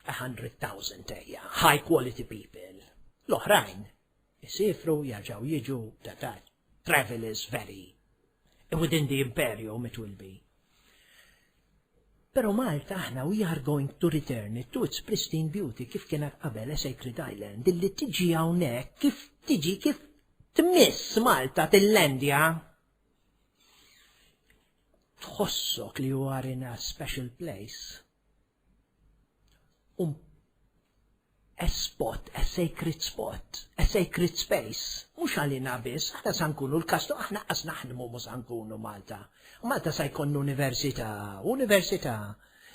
100,000 ejja, high quality people. L-oħrajn isifru jarġaw jiġu ta' ta' travel is very within the imperium it will be. Pero Malta aħna we are going to return it to its pristine beauty kif kienet qabel a sacred island illi tiġi hawnhekk kif tiġi kif tmiss Malta tillandja tħossok li you are in a special place. Um S-spot, s-sacred spot, s-sacred space, mhux għalina biss, aħna sa nkunu l-Kastru, aħna qas naħdmu mhu sa nkunu Malta. Malta sa jkollna università, università,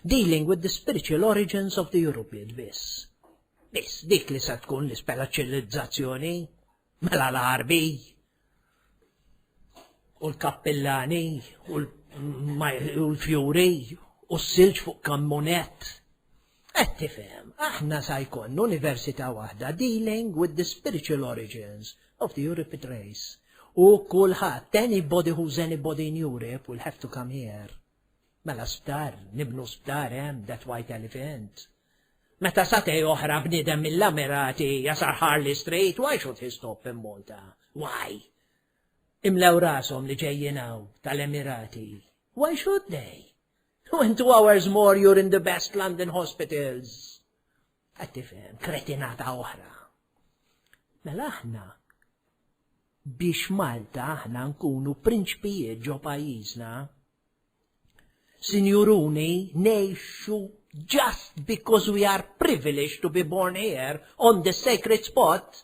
dealing with the spiritual origins of the European biss. Biss, dik li sa tkun l-isperaċilizzazzjoni. Mela l-Għarbi u l-Kappillani u l-Fjuri u s-silġ fuq kammunet. Qed tifhem, aħna sa jkollna università waħda dealing with the spiritual origins of the European race. U kulħadd, anybody who's anybody in Europe will have to come here. Mela sptar, nibnu sptar hemm, that white elephant. Meta satej oħra bniedem mill-Emirati jasar Harley Street, why should he stop in Malta? Why? Imlew rashom li ġejjin hawn tal-Emirati. Why should they? When two hours more you're in the best London hospitals. Qed tifhem, kretinata oħra. Mela aħna biex Malta aħna nkunu prinċpijiet ġo pajjiżna. Sinjuruni, nejxu just because we are privileged to be born here on the sacred spot,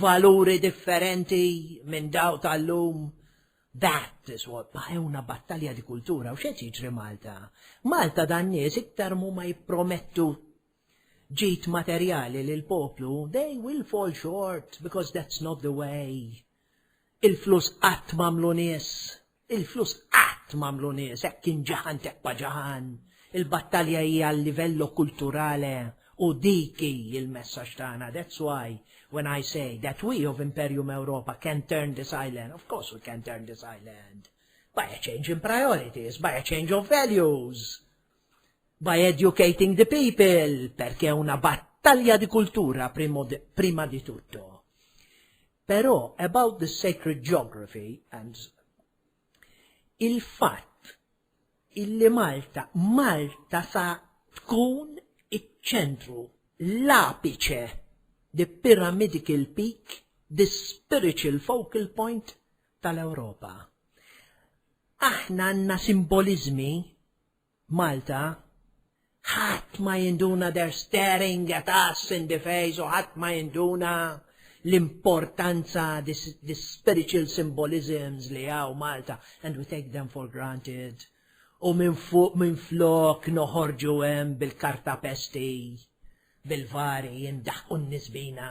Valuri differenti minn daw tal-lum. That is what baqewna battalja di kultura u xed jiġri Malta. Malta dan nies iktar mu ma jippromettu ġit materjali lil poplu, they will fall short because that's not the way. Il-flus qatt mamlu nies. Il-flus qatt m'għamlu nies hekk inġaħan teppa ġaħan. Il-battalja hi għal livello kulturale u dik hi il-messaġġ tagħna that's why when I say that we of Imperium Europa can turn this island, of course we can turn this island by a change in priorities, by a change of values. By educating the people, perché è una battaglia di cultura prima di tutto. Però, about the sacred geography and il-fatt illi Malta, Malta sa tkun iċ-ċentru, l-apiċe, the pyramidical peak, the spiritual focal point tal-Ewropa. Aħna għandna simbolizmi Malta, Ħadd ma jinduna they're staring at us in the face u ħadd ma jinduna l-importanza the spiritual symbolisms li hawn Malta and we take them for granted u minn fuq minn flok noħorġu hemm bil-karta pesti bil-vari jindaħqu n-nies bina.